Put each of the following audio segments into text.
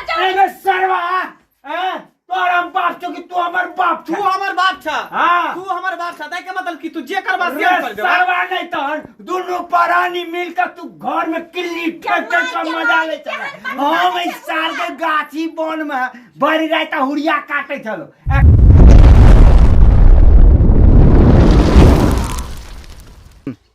अरे सरवा हैं तोर हम बाप छो कि तू हमर बाप तू छो हमर बाप छा हाँ। तू हमर बाप छा ताहि के मतलब कि तू जे करबा से हम अरे कर देबा सरवा नहीं तहन दुनू परानी मिलकर तू घर में किल्ली ठेक ठेक का मजा ले चला हम इस साल के गाछी बन में बड़ी रात हुरिया काटे चलो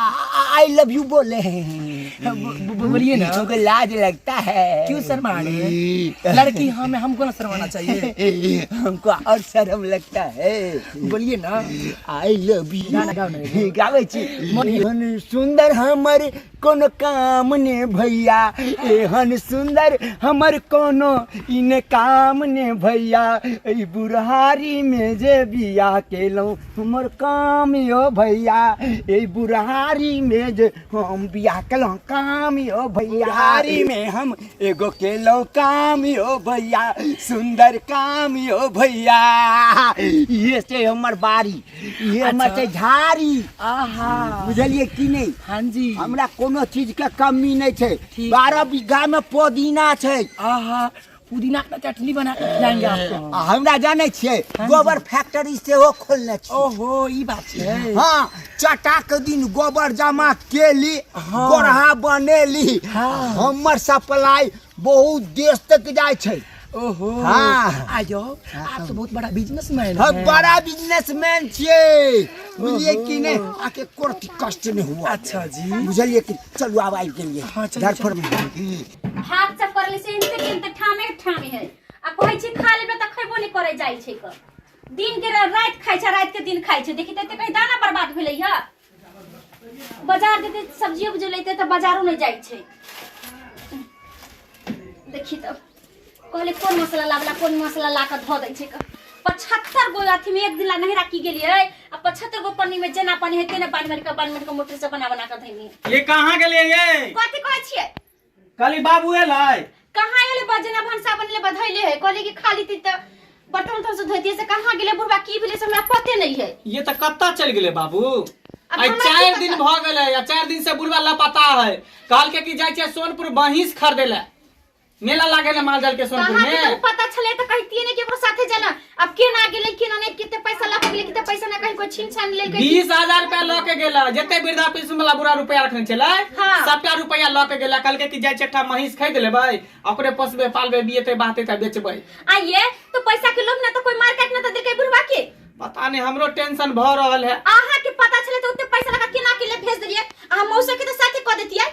आई लव यू बोले बोलिए ना तुमको लाज लगता है क्यों शर्मा रहे लड़की हमें हमको ना शर्माना चाहिए हमको और शर्म लगता है बोलिए ना आई लव यू गावे छी एहन सुंदर हमर कोनो काम ने भैया एहन सुंदर हमर कोनो इन काम ने भैया ई बुढ़ारी में जे बिया केलौं हमर काम यो भैया ए बुढ़ारी में जे हम बियाह केलहुँ काम यो भैया बुढ़ारी में हम एगो केलहुँ काम यो भैया सुंदर काम यो भैया ये से हमर बारी ये हमर से झाड़ी आहा बुझलिए कि नहीं हाँ जी हमरा कोनो चीज के कमी नहीं छै ठीक। बारह बीघा में पुदीना छै आहा पुदीना का चटनी बना के खिलाएंगे आपको आ हमरा जानै छियै हाँ जी। गोबर फैक्ट्री सेहो खोलने छी ओहो ई बात छै हाँ चटा के दिन गोबर जमा केली हाँ। गोरहा बनेली हाँ। हमर सप्लाई बहुत देश तक जाइ छै ओहो हाँ। आयो आप तो बहुत बड़ा बिजनेसमैन हम है बड़ा बिजनेसमैन छियै बुझलियै कि नहि आके कोर्ट कष्ट नहि हुआ अच्छा जी बुझलियै कि चलू आब आबि गेलियै हाँ, चलू, घर पर हाथ से पड़ले से इनते के इनते ठामे के ठामे है आ कहै छै खा लेबे त खैबो नै करे जाइ छै क दिन के रा- रात खाइ छै रात के दिन खाइ छै देखि ते कहीं दाना बर्बाद भेलै ह बाजार जेते सब्जी उब्जी लेते त बाजारो नै जाइ छै देखि त कहले कोन मसाला लावला कोन मसाला ला के धो दै छै क। पचहत्तर गो अथी में एक दिन ला नहरा की गेलिए आ पचहत्तर गो पन्नी में जेना पानी है तेना पानी मार के बान मार के मोटर से बना बना के धैनी ये कहाँ गेलिए ये कथी कहै छियै कली बाबू एलै कहाँ एले बजना भनसा बनले बधैले है कहले कि खाली ती त बर्तन उर्तन से धोतिए से कहाँ गेले बुढ़वा की भेले से हमरा पते नहीं है ये तो कत्ता चल गेले बाबू अब आई हमरा चार की दिन पता? भ गेले आ चार दिन से बुढ़वा लापता है कहल के कि जाय छै सोनपुर बहिस खरीदे ले मेला लागे ना मालजाल के सोनपुर कहाँ के में तू पता छले तो कहतिए ने कि ओकरा साथे जाना अब के ना गेले के ना ने किते पैसा ला गेले किते पैसा ना कहीं को छीन छान ले गई बीस हजार रुपया लऽ के गेला जते वृद्धा पेंशन वाला बुरा रुपया रखने छलै हाँ। सबटा रुपया लऽ के गेला कहलकै कि जाइ छै एकटा महींस खरीद लेबै आ ओकरे पोसबै पालबै बियेतै बाहतै तऽ बेचबै आ ये तो पैसा के लोभ ना तो कोई मार काट ना तो देलकै बुढ़वा के पता नहि हमरो टेंशन भऽ रहल है आहा के पता छले तो उते पैसा लगा के ना के ले भेज देलिए आ मौसा के तो साथे कह देतिए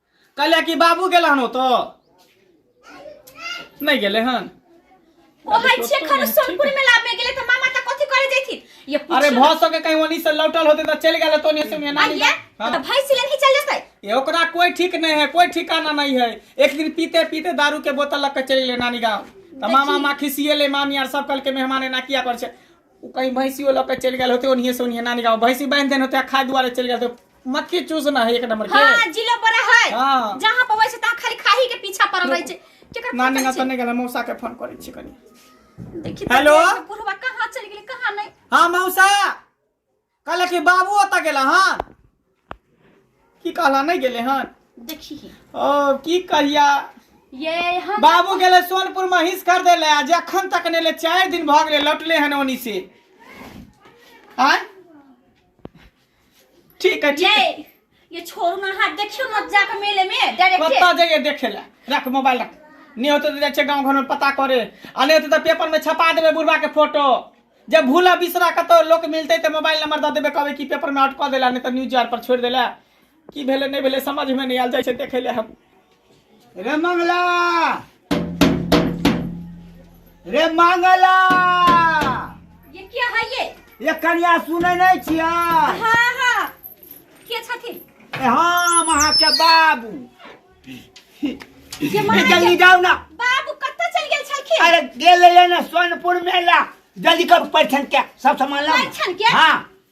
कहले कि बाबू गेल हन ओतो नहीं गेले हन ओ भाई छे खर सोनपुर में लाभ में गेले त मामा त कथि करे जैथि ये पूछ अरे भौ सके कहीं वनी से लौटल होते त चल गेले तो नहीं से नहीं आइए तो हाँ। भाई सिले ही चल जतै ये ओकरा कोई ठीक नहीं है कोई ठिकाना नहीं है एक दिन पीते पीते दारू के बोतल लग के चल गेले नानी गांव त मामा माँ खिसिए ले मामी आर सब कल के मेहमान ना किया पर छे ओ कहीं भैंसियो लऽ के चलि गेल होते ओनिये से ओनिये नानी गाँव भैंसी बांधि देने होते आ खाय दुआरे चलि गेल होते मक्खी चूसना है एक नंबर के हाँ जिलो बड़ा है हाँ। जहाँ पर वैसे तहाँ खाली खाही के पीछा पड़ल रहे छै केकर नानी पता गाँव छै? तऽ नहि गेल मौसा के फोन करै छी कनी देखी हेलो? बुढ़वा कहाँ चलि गेलै कहाँ नहीं हाँ मौसा कहले कि बाबू ओतऽ गेला हन की कहला नहीं गेले हन देखी ही ओ की कहिया ये हम बाबू गेले सोनपुर महींस खरीदे ले आ जखन तक ने ले चार दिन भऽ गेले लौटले हन ओनी से आय ठीक है ठीक है ये ये छोड़ ना हाथ देखियो मत जा के मेले में डायरेक्ट कत्ता जाइए देखे ला रख मोबाइल रख नहीं होते तो जाए गाँव घर में पता करे आ नहीं होते तो पेपर में छपा देवे बुढ़वा के फोटो जब भूला बिसरा कतो लोग मिलते तो मोबाइल नंबर दे देवे कहे कि पेपर में अटक देला नहीं तो न्यूज आर पर छोड़ देला की भेले नहीं भेले समझ में नहीं आल जाए देखे ले हम रे मंगला रे मंगला ये क्या है ये ये कनिया सुनै नै छियै हाँ हाँ के छथिन ए हम अहाँके बाबू ये माँ ए, जल्दी जाउ न बाबू कतऽ चल गेल छलखिन अरे गेलै ने सोनपुर मेला जल्दी कर परिछन के सब सामान लाउ न। परिछन के? हाँ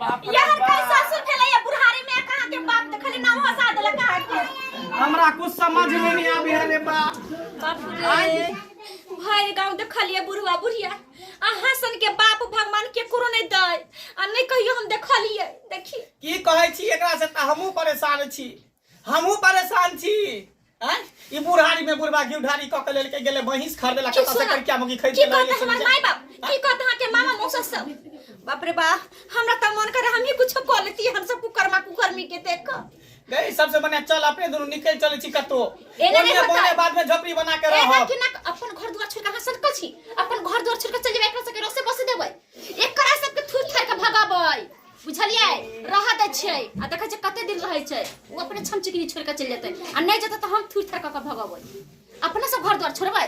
बाप रे यार का बाप। सासुर भेलै या बुढ़ारी में कहां के बाप त खाली नाम हटा देला कहां के हमरा कुछ समझ में नहीं आवे है रे बाप बाप रे भर गांव देखलिए बुढ़वा बुढ़िया अहाँ सन के बाप भगवान के करो नहीं दे आ नहीं कहियो हम देखलिए देखी की कहै छी एकरा से त हमहू परेशान छी हमहू परेशान छी आय ई बुढ़ारी में बुढ़वा घी ढारी क के लेके गेले भैंस खरीदे ला कता से कर क्या मगी खरीद की ले कहत हमर माय बाप की कहत हां के मामा मौसा सब बाप रे बाप हमरा त मन करे हम ही कुछ कर लेती हम सब कुकरमा कुकरमी के देख के गई सबसे बढ़िया चल अपने दोनों निकल चले छी कतो एने नहीं होता। बोले बाद में झोपड़ी बना के ए ना रहो कि ना अपन घर द्वार छोड़ के हां सटक छी अपन घर द्वार छोड़ के चल जेबै एकरा से के रसे बस देबै एकरा सब के थूर थार के भगाबै बुझलियै रह दै छियै आ देखै छियै कते दिन रहै छै ओ अपने छम चिकनी छोड़ कऽ चलि जेतै आ नहि जेतै तऽ हम थूर थर कऽ कऽ भगबै अपने से घर द्वार छोड़बै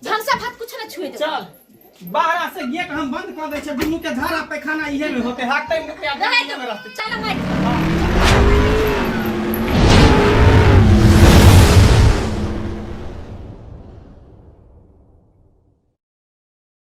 भनसा भात कुछ नहि छुए देबै चल बाहर से गेट हम बंद कर दे छे दुनू के झाड़ा पैखाना इहे में होते हाकते में क्या रहै इहे में रहते चल भाई